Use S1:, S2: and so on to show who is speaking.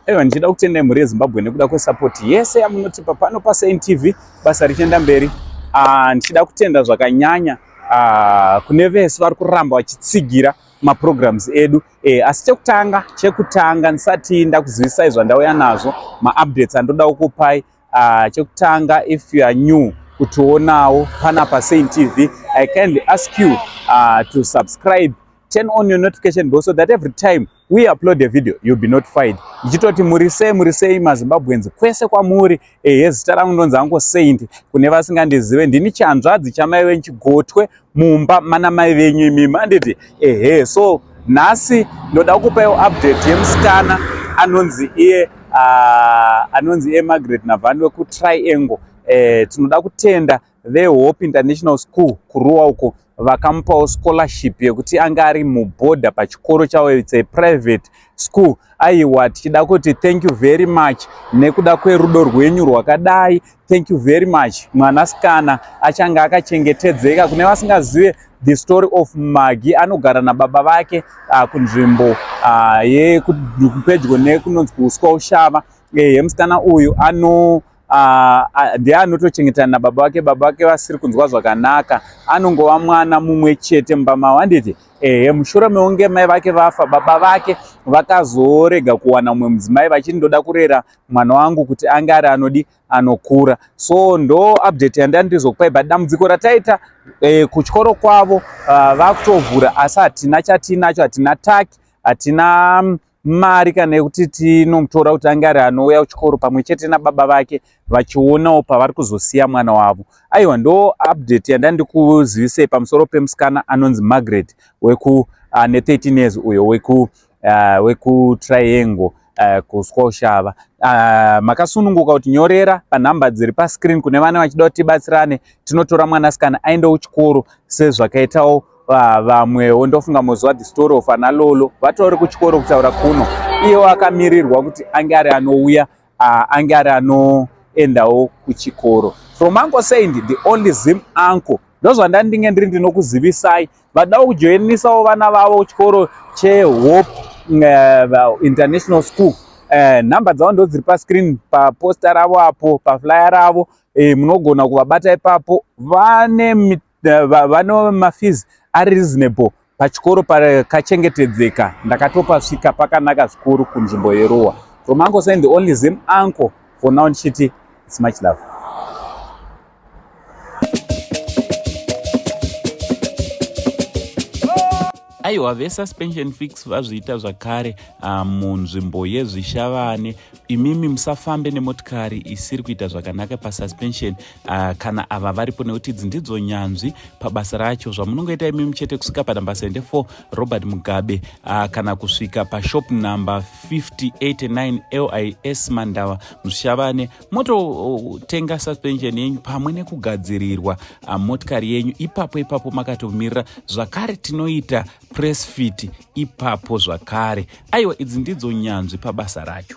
S1: Aiwa ndichida kutenda mhuri yeZimbabwe nekuda kwesupport yese yamunotipa pano paSaintv basa richienda mberi. Ah, ndichida kutenda zvakanyanya ah, kune vese vari kuramba vachitsigira maprograms edu e, asi chekutanga chekutanga ndisati ndakuzivisai zvandauya nazvo maupdates andoda kukupai ah, chekutanga if you are new kutionawo pana pasaint tv i kindly ask you uh, to subscribe turn on your notification bell so that every time we upload a video you'll be notified ndichitoti muri sei muri sei mazimbabweans kwese kwamuri ehe zita rangu ndonzi angu saint kune vasingandizive ndini chanzvadzi chamai venyu chigotwe mumba mana mai venyu imi manditi ehe so nhasi ndoda kukupaiwo update yemusikana anonzi iye uh, anonzi iye margaret navani wekutriangle eh, tinoda kutenda vehope international school kuruwa uko vakamupawo scholarship yekuti anga ari muborder pachikoro chavo its a private school aiwa tichida kuti thank you very much nekuda kwerudo rwenyu rwakadai thank you very much mwanasikana achange akachengetedzeka kune vasingazive the story of magi anogara nababa vake uh, kunzvimbo uh, yekupedyo nekunonzi kuuswa ushava ehe musikana uyu ano Ah, ah, ndiye anotochengetana nababa vake baba vake vasiri kunzwa zvakanaka anongova mwana mumwe chete mumba mavo handiti ehe mushure meunge mai vake vafa baba vake vakazorega kuwana mumwe mudzimai vachiti ndoda kurera mwana wangu kuti ange ari anodi anokura so ndo update yandai ndizokupai but dambudziko rataita eh, kuchikoro kwavo ah, vakutovhura asi hatina chatiinacho hatina taki hatina mm, mari kana yekuti tinomutora kuti ange ari anouya kuchikoro pamwe chete nababa vake vachionawo pavari kuzosiya mwana wavo aiwa ndo update yandandikuzivisei pamusoro pemusikana anonzi margaret weku ane uh, 13 years uyo weku uh, wekutriangle uh, kuswa ushava uh, makasununguka kuti nyorera panhamba dziri pascreen kune vana vachida kuti tibatsirane tinotora mwanasikana aendewo kuchikoro sezvakaitawo Ah, vamwewo ndofunga moziva the story of ana lolo vatori kuchikoro kutaura kuno iyewo akamirirwa kuti ange ari anouya ah, ange ari anoendawo kuchikoro from uncle saint the only zim uncle ndozvandandinge ndiri ndinokuzivisai vadawo kujoinisawo vana vavo chikoro chehope uh, international school uh, number dzavo ndo dziri pascreen paposta ravo apo paflyer ravo uh, munogona kuvabata ipapo vane vano mafees ari reasonable pachikoro pakachengetedzeka ndakatopasvika pakanaka zvikuru kunzvimbo yeruwa from uncle sain the only zim uncle for now ndichiti its much love aiwa vesuspension fix vazviita zvakare ah, munzvimbo yezvishavane imimi musafambe nemotikari isiri kuita zvakanaka pasuspension ah, kana ava varipo nekuti idzi ndidzo nyanzvi pabasa racho zvamunongoita imimi chete kusvika panumber 74 robert mugabe ah, kana kusvika pashop number 589 lis mandava mushavane mototenga suspension yenyu pamwe nekugadzirirwa ah, motikari yenyu ipapo ipapo makatomirira zvakare tinoita press fit ipapo zvakare aiwa idzi ndidzo nyanzvi pabasa racho